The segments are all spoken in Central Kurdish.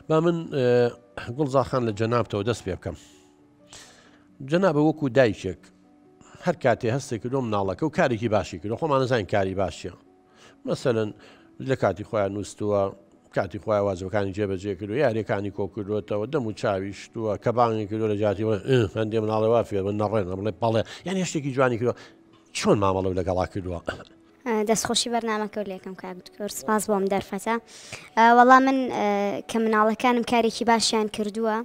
با من گوڵ زاخان لە جەنابتەوە دەست پێ بکەم جەنابە وەکو دایکێک هەر کاتێ هەستێک کردۆ مناڵەکە و کارێکی باشی کردو خۆمانەزانین کاری باشە مەسەن لە کاتی خۆیان نووسووە کاتی خۆی وازەکانی جێبەجێ کردو یاریەکانی کۆکردوێتەوە دەم و چاوی شتووە کە بانگی کردو لە جاتیەوە هەندێ مناڵەوە فێرمە نەڕێن بڵێ پاڵێ یان هێشتێکی جوانی کردو چۆن مامەڵە لەگەڵا کردووە دەست خۆشی بەرنامەکە و لەکەم کاک دکتۆر سپاس بۆم دەرفەتە وەڵا من کە مناڵەکانم کارێکی باشیان کردووە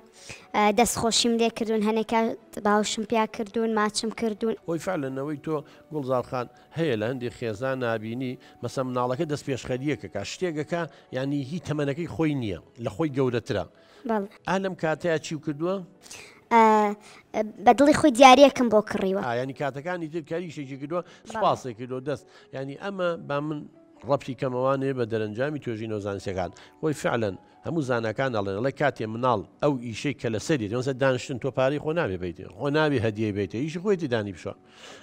دەست خۆشیم لێ کردوون هەنێکە باوشم پیا کردوون ماچم کردوون هۆی فعلەنەوەی تۆ گوڵزارخان هەیە لە هەندێک خێزان نبینی مەسە مناڵەکە دەست پێشخەریەکەکە شتێکەکە ینی هی تەمەەکەی خۆی نییە لە خۆی گەورەترە بەڵێ. ئا لەم کاتەیا چیو کردووە؟ ئا بە دڵی خۆی دیاریەکم بۆ کڕیوە. ئا یانی کاتەکانی تر کەریشێکی کردووە سوپاسی کردووە دەست یانی ئەمە با من ڕەبتی کەمەوە نێ بە دەرەنجامی توێژینەوە زانستیەکان خۆی فعلەن هەموو زاناکان ئەڵێن ئەڵێ کاتێ مناڵ ئەو ئیشەی کە لەسەری دەمەسە دانشتن تۆ پارەی خۆ نابێ بیت خۆ نابێ هەدیەی بیت ئیشی خۆیتی دانی بشە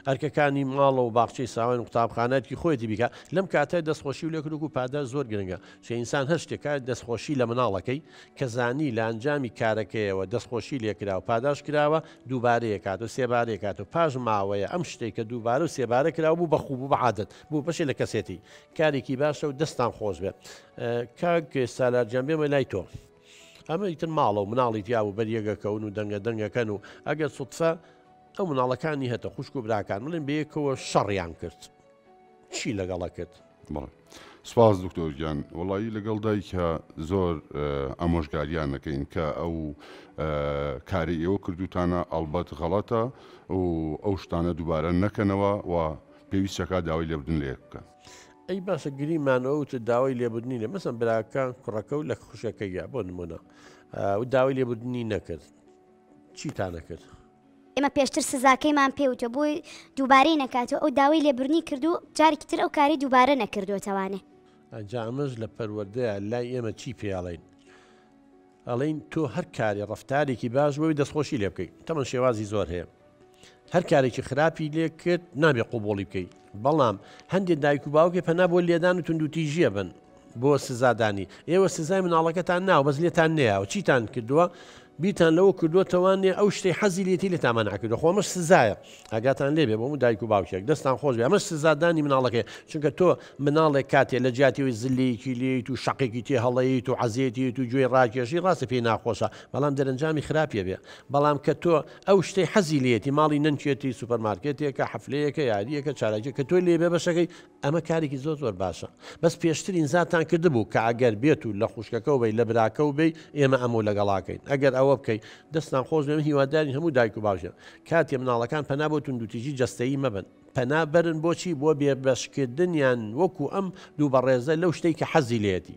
ئەرکەکانی ماڵە و باخچەی ساوان و قوتابخانەتکی خۆیتی بیکە لەم کاتە دەستخۆشی و لەکرک و پادە زۆر گرنگە چه ئینسان هەر شتێکە دەستخۆشی لە مناڵەکەی کە زانی لە ئەنجامی کارەکەیەوە دەستخۆشی لێکرا و پاداش کراوە دووبارەیە کات و سێبارەیە کات و پاش ماوەیە ئەم شتێک کە دووبارە و سێبارە کراوە بوو بەخوب و بەعادت بوو بەشێ لە کەسێتی کارێکی باشە و دەستان خۆش بێت کاک سالارجان بێمە لای تۆ ئەمە ئیتر ماڵە و مناڵی جیاب و بەریەگەکەون و دەنگە دەنگەکەن و ئەگەر سوتفە ئەو مناڵەکانی هەتە خوشک و براکان بڵێن بەیەکەوە شەڕیان کرد چی لەگەڵە کرد بڵێ سپاس دکتۆرگیان وڵایی لەگەڵ دایکە زۆر ئەمۆژگاریان نەکەین کە ئەو کاری ئێوە کردوتانە ئەڵبەت غەڵەتە و ئەو شتانە دووبارە نەکەنەوە و پێویستەکە داوای لێبدن لێک بکەن. ئەی باسە گریمانەوەوت داوای لێبدنی لە مەسم براکە کوڕەکە و لە خوشەکەیە بۆ نمونە و داوای لێبدنی نەکرد چیتان نەکرد؟ ئێمە پێشتر سزاکەیمان پێ وتوە بۆی دووبارەی نەکاتەوە ئەو داوای لێبرنی کردو جارێکی تر ئەو کاری دووبارە نەکردوێتەوانێ ئەجا ئەمەش لە پەروەردەیە لای ئێمە چی پێڵین ئەڵین تۆ هەر کاری ڕفتارێکی باش بۆی دەستخۆشی لێ بکەیت تەمە شێوازی زۆر هەیە هەر کارێکی خراپی لێ کرد نابێ قوبوڵی بکەیت بەڵام هەندێک دایک و باوکێ پەنا بۆ لێدان و توندوتیژیە بن بۆ سزادانی ئێوە سزای مناڵەکەتان ناو بەس لێتان نەیەوە چیتان کردووە بیرتان لەوە کردوتەوانێ ئەو شتی حەزی لێتی لە تامان ناکردو خۆمەش سزایە ئاگاتان لێبێ بۆ و دایک و باوکێک دەستان خۆش بێ ئەمەش سزادانی مناڵەکەی چونکە تۆ مناڵێک کاتێ لە جیاتیەوەی زلەیەکی لیت و شقێکی تێ هەڵەیت و عزیێتی و گوێی ڕاکێشی ڕاستە پێی ناخۆشە بەڵام دەرەنجامی خراپە بێ بەڵام کە تۆ ئەو شتەی حەزی لێیەتی ماڵی نەنکێتی سوپەرمارکێتێکە حەفلەیەکە یاریەکە چالاکیە کە تۆی لێ بێبەشەکەی ئەمە کارێکی زۆر زۆر باشە بەس پێشتر ئینزاتان کردبوو کە ئەگەر بێت و لە خوشکەکەو بی لە براکەو بی ئێمە ئەمەو لەگەڵاکەین ئەگەر ئەوە بکەی دەستان خۆش بێ من هیوادارین هەموو دایک و باوکێک کاتێ مناڵەکان پەنا بۆ توندوتیژی جەستەیی مەبەن پەنا بەرن بۆچی بۆ بێبەشکردنیان وەکو ئەم دوو بەڕێزە لەو شتەی کە حەزی لێیەتی.